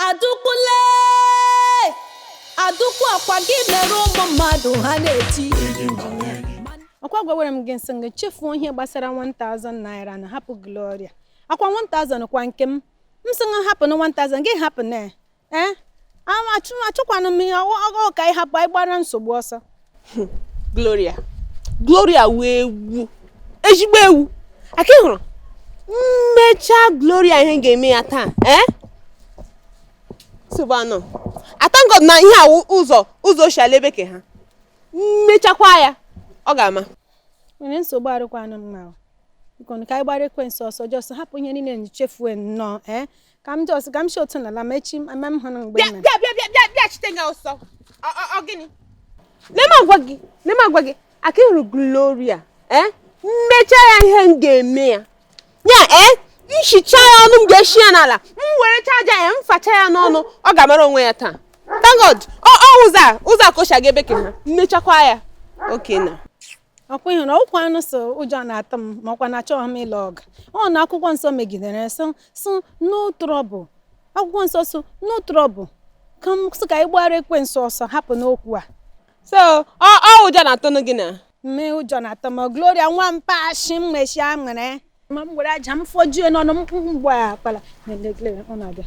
Adaukwu lee Adaukwu ọkwa gị mere ụmụ mmadụ ha na-eti ọkwa gwawere m gị m sị gị chefuo ihe gbasara 1000 naira na hapụ Gloria ọkwa 1000 kwa nke m m sị gị hapụ na 1000 gị hapụ na ee achọkwanụ m ihe ọgụ ka ị hapụ anyị gbara nsogbu ọsọ hmm, gloria gloria wụ ewu ezigbo ewu ọkwa ị hụrụ m mechaa gloria ihe m ga-eme ya taa ee eh? sobano I thank God na ihe a wụ ụzọ ụzọ o shi ala ebe ke ha m mechakwa ya ọ ga-ama onwe ya nsogbu arụkwanụ mma bikonu ka anyị gbara ekwensu ọsọ just hapụ ihe niile chefuo nnọọ ee eh? ka m just ka m si otu n'ala ma echi m ama m hụrụ mgbe bịa ị mere bịa bịa bịa bịa bịa chite gị ọsọ Ọ- ọ- ọ gịnị Lee m agwa gị, lee m agwa gị, ọkwa ị hụrụ Gloria, eh? M mechaa ya ihe m ga-eme ya. Ya, eh? M chichaa ya ọnụ m ga-eshi ya n'ala, m were aja ya, m facha ya n'ọnụ, ọ ga-amara onwe ya taa. Thank God, ọ ọ ụzọ a, ụzọ a ka o si aga ebe ke ha, m mechakwa ya. Okay na. ọkwa ị hụrụ ọkwa unu sị ụjọ na-atụ m ma ọkwa na achọghị m ịlụ ọgụ ọ na akwụkwọ nsọ megidere so so no trouble akwụkwọ nsọ so no trouble ka m sị ka anyị gbara ekwensu ọsọ hapụnụ okwu a so ọ ọ ụjọ na-atụnụ gị na mme ụjọ na-atụ m gloria nwa m pashi m mechi aṅụrị ma m were aja m fọjue n'ọnụ m mgbe akpala na-ele gloria ọ na-abịa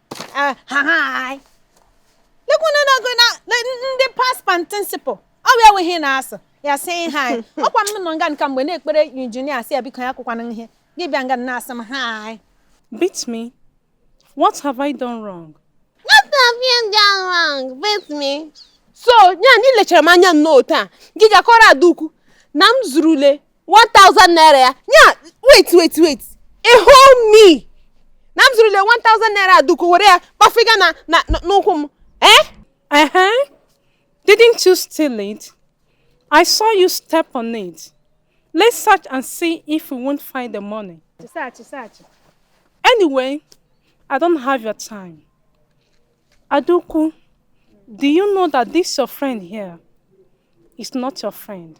Eh, ha lekwana na-agụ na ndị past and principal ọ bụ enweghị na-asụ ya sị ihe anyị ọkwa m nọ nga a kemgbe na-ekpere injinia sị ya biko ya kụkwana ihe gị bịa nga na-asị m hi beat me what have i done wrong what have you done wrong beat me so ya na i lechara m anya nnọọ taa gị ga kọọrọ Adaukwu na m zurule 1000 naira ya nya wait wait wait ị hụ mi na m zụrụle 1000 naira duku were ya kpafiga na na n'ụkwụ m eh uh-huh. didn't you steal it i saw you step on it let's search and see if we won't find the money search search anyway i don't have your time aduku do you know that this your friend here is not your friend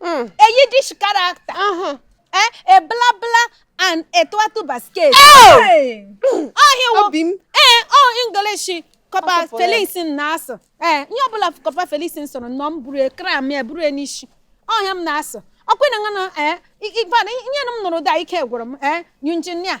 Mm. a Yiddish character, Uh-huh. eh, a bla bla and a twatu basket. Hey! Oh, he will Obi m. ee ọ English corper Ọ kọpụrụ ya. Felix na-asụ ee ihe ọbụla corper Felix sụrụ nnọọ m buru a cram ya buru ya n'isi ọ ihe a m na-asụ ọkwụ na ngana ee ifeada ihe na m nụrụ da ike gwụrụ m ee injinia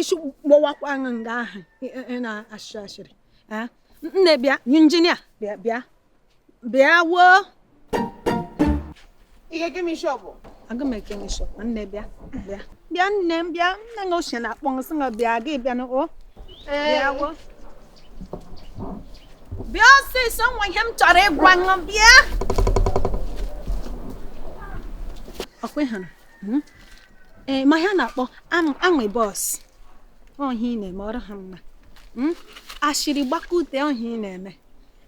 isi gbawakwa ṅụ nga ahụ ị na-ashị ashịrị nne bịa injinia bịa bịa bịa woo ihe gị m isi ọ bụ aga m eke m isi ọ nne bịa bịa bịa nne m bịa nne na ochie na-akpọ m sị nga bịa gị bịa na o bịa woo bịa ọsịịsọ nwere ihe m chọrọ ịgwa ṅụ bịa ọkwa ị hụrụ Hmm? ị ma ihe a na-akpọ am- amebo ahụ ị na-eme ọ rụha mma Hmm? ashịrị gbakute ahụ ị na-eme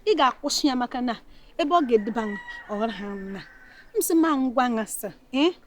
ị ga-akwụsị ya maka na ebe ọ ga-eduba ṅụ ọ rụha mma m sị ma m gwa ṅasa ee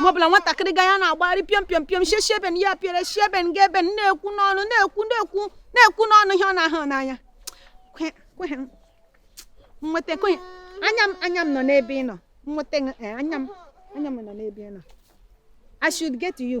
ma ọbụla nwatakịrị ga ya na-agbagharị pịọm pịọm pịọm shi shi ebe a pịere shi ebe ga ebe na-ekwu n'ọnụ na-ekwu na-ekwu na-ekwu n'ọnụ ihe ọ na-ahụ n'anya nweta kwenye anya m anya m nọ n'ebe ị nọ nweta eh, anya m anya m nọ n'ebe ị nọ I should get to you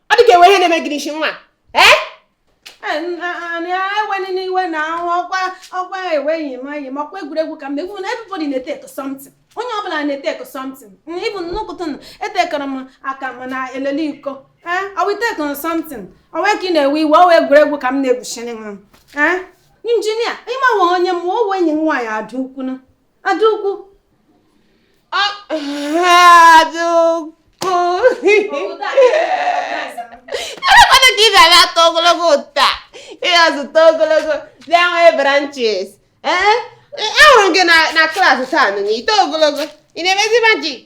ọ dị ka e nwe ihe na-eme gị n'isi nwa ee eweli n'iwe na ahụ ọkwa ọkwa eweghị m anyị makwa egwuregwu ka mgbe egwu na everybody na-eteko something onye ọbụla na-eteko something ị bụ nnukụtụ na etekọrọ m aka m na-elele iko ee ọwa itekọrọ something ọwa ka ị na-ewe iwe ọwa egwuregwu ka m na-egwuchiri m ee injinia ị mawa onye wụ enyi m nwaanyị Adaukwu na Adaukwu Adaukwu elekwana ka ị ga-aga eto ogologo ụta ị ga zụta ogologo bịa nwee branches ee ahụrụ m gị na klaasị taa nụ na ito ogologo ị na-emezi majik